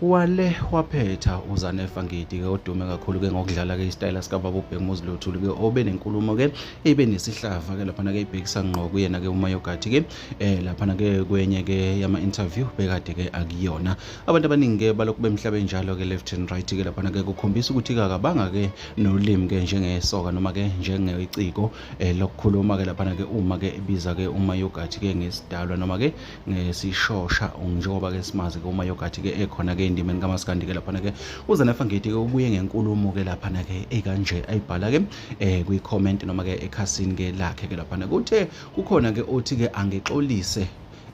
wale waphetha uzanefa ngidi-ke odume kakhulu-ke ngokudlala-ke isitayela sikababa ubhekumuzi lothulu-ke obe nenkulumo-ke ibe nesihlava-ke laphana-ke ibhekisa ngqo kuyena-ke umayogathi-ke um laphana-ke kwenye-ke yama-interview bekade-ke akuyona abantu abaningi-ke balokhu bemhlabe njalo-ke left and right-ke laphana-ke kukhombisa ukuthi kakabanga-ke nolimi-ke njengesoka noma-ke njengeciko um lokukhuluma-ke laphana-ke uma-ke ebiza-ke umayogathi-ke ngesidalwa noma-ke ngesishosha njengoba ke simazi ke uma yogathi ke ekhona ke endimeni kamaskandi ke laphana ke uzanefa ngidi ke ubuye ngenkulumo ke laphana ke ekanje ayibhala ke eh kwi comment noma ke ekhasini ke lakhe ke laphana kuthe kukhona ke othi ke angixolise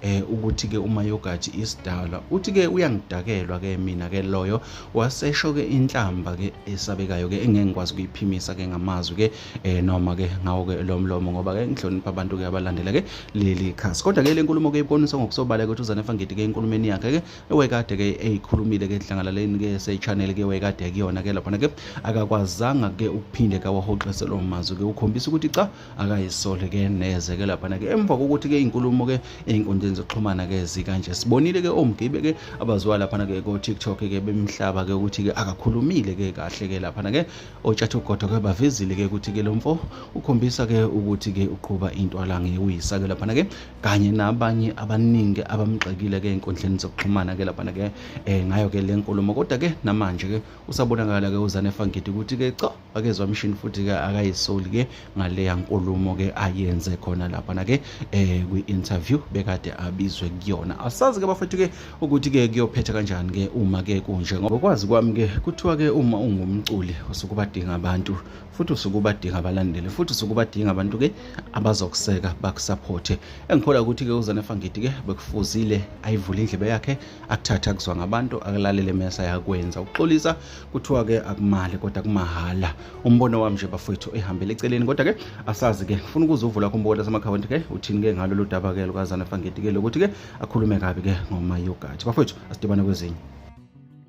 eh ukuthi ke uma yogathi isidala uthi ke uyangidakelwa ke mina ke loyo wasesho ke inhlamba ke esabekayo ke engeke ngikwazi kuyiphimisa ke ngamazwi ke eh noma ke ngawo ke lo mlomo ngoba ke ngihlonipha abantu ke abalandela ke leli khasi kodwa ke le nkulumo ke ibonisa ngokusobala ukuthi uZanefa Ngidi ke enkulumeni yakhe ke ewekade ke eyikhulumile ke enhlangalaleni ke se channel ke wekade kuyona ke lapha ke akakwazanga ke ukuphinde ka wahoxise lo mazwi ke ukhombisa ukuthi cha akayisole ke neze ke lapha ke emva kokuthi ke inkulumo ke einkundleni zokuxhumana ke zikanje sibonile ke omgibe ke abaziwa lapha ke ko TikTok ke bemhlaba ke ukuthi ke akakhulumile ke kahle ke lapha ke otshathogodo ke bavezile ke ukuthi ke lo mfo ukhombisa ke ukuthi ke uqhuba into alange uyisa ke laphana ke kanye nabanye abaningi abamgxekile ke enkundleni zokuxhumana ke laphana ke eh ngayo ke le nkulumo kodwa ke namanje ke usabonakala ke uzane fangidi ukuthi ke cha akezwa mshini futhi ke akayisoli ke ngaleya nkulumo ke ayenze khona lapha na ke eh kwi interview bekade abizwe kuyona asazi ke bafethu ke ukuthi ke kuyophetha kanjani ke uma ke kunje ngoba kwazi kwami ke kuthiwa ke uma ungumculi usukubadinga abantu futhi usukubadinga abalandeli futhi usukubadinga abantu ke abazokuseka bakusupporte engikholwa ukuthi ke uzane fangidi ke bekufuzile ayivule indlebe yakhe akuthatha kuzwa ngabantu akulalele mesa yakwenza ukuxolisa kuthiwa ke akumali kodwa kumahhala umbono wami nje bafowethu ehambele eceleni kodwa ke asazi ke ngifuna ukuze uvula kho umbokola samakhawunti ke uthini ke ngalo ludaba ke lukazana fangeti ke lokuthi ke akhulume kabi ke ngomayogathi bafowethu asidibane kwezinye